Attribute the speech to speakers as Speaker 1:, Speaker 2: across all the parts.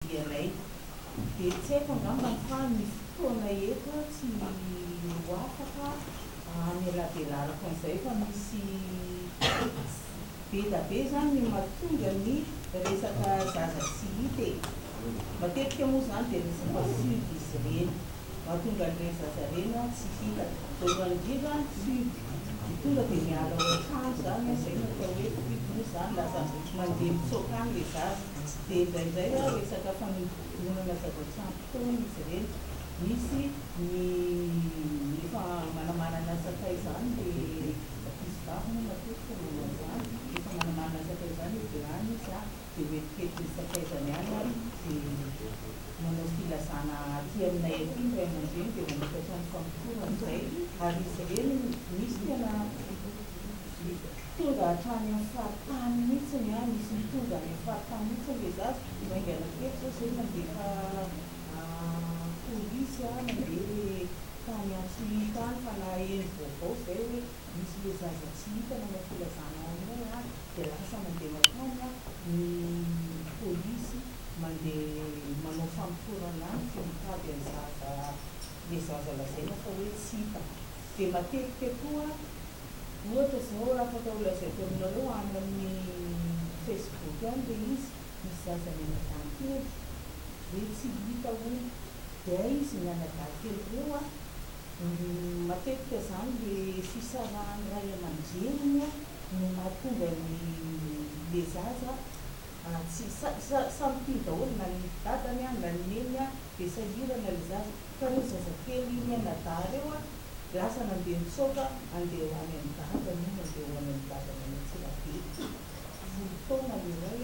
Speaker 1: iray. Dia tsy haiko angambany fa ny fotoana eto tsy ho afaka hamelabelarako an'izay fa misy be da be izany ny mahatonga ny resaka zaza tsy hita e. Matetika moa izany dia resaka sud izy ireny. Mahatonga an'ireny zaza ireny tsy hihinana. Voalohany indrindra ny fihogo dia tonga dia miala ao an-trano izany, izay no atao hoe fihogo moa izany, lasa mandeha mitsoaka any ilay zaza. Dia indraindray resaka fanodinkodinana zava-tsampy foana izy ireny. Misy ny efa manamanana sakay izany ilay ankizivavy moa matetika manao izany, efa manamanana sakay izany hoe vilany izy an! dia hoetivety ny sakaizany any ary dia manao filazana aty aminay aty ny ray aman-dreny dia manokatra ny fampitoro amin'izay ary izy ireny misy tena tonga hatrany amin'ny faritany mihitsy ny an, misy mitondra any amin'ny faritany mihitsy ilay zaza, vao haingana kely izao izay nandefa polisy an, nandeha tany Antsohihy tany fa naheno vaovao izay hoe misy le zaza tsy hita nanao filazana ao aminay a de lasa mandeha makany a ny polisy mandeha manao famotorana any de mitady an'i zaza le zaza lazaina fa hoe tsy hita de matetika koa ohatra zao afaka ho lazaiko aminareo any amin'ny facebook any le izy misy zaza any anadahin-kely hoe tsy hita hono de izy ny anadahin-kely reo a Matetika zany le fisarahan'ny ray aman-dreniny no mahatonga ny le zaza tsy samy tia daholo na ny dadany na ny neniny de sahirana le zaza ka reo zaza telo i mianadahy reo lasa nandeha nitsoaka andeha ho any amin'ny dadany io nandeha ho any amin'ny dadany any Antsirabe folo taona le ray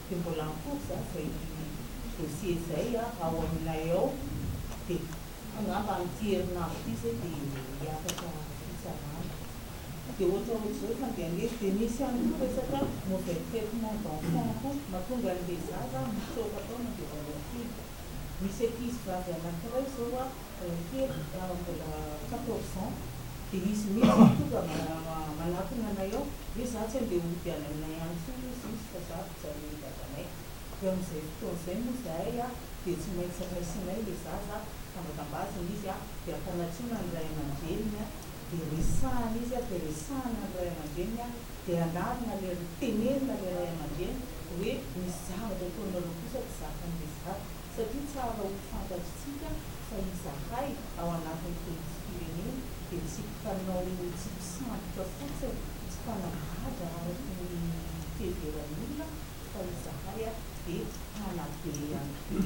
Speaker 1: dia mbola ampody zany zay dossier izay ao aminay ao dia angamba amin'ity herinandro ity izay dia hiakatra fitsarana dia ohatra ohatra izao efa andeha angeza dia misy ihany koa resaka mauvais traitement d'enfants koa mahatonga an'ilay zaza mitsoaka taona dia vao miha kely misy ankizy vavy anankiray izao kely za mbola quatorze ans dia izy mihitsy no tonga manatona anay ao hoe za tsy andeha hody any aminay any intsony ozy izy fa za mijanona eny dadanay dia amin'izay fotoana izay moa izahay a dia tsy maintsy raisinay ilay zaza tambatambazina izy a dia ampanatsoina ny ray aman-dreniny a dia resahina izy a dia resahina ny ray aman-dreniny a dia anarina ilay tenenina ilay ray aman-dreny hoe misy zavatra ataonareo kosa tsy zakan'ilay zaza satria tsara ho fantatritsika fa izahay ao anatin'ny Fetim-pirenena dia tsy mpanao tsy mpisambotra fotsiny, tsy mpanambadra araka ny fiheveran'ny olona fa izahay dia mpanabe ihany koa.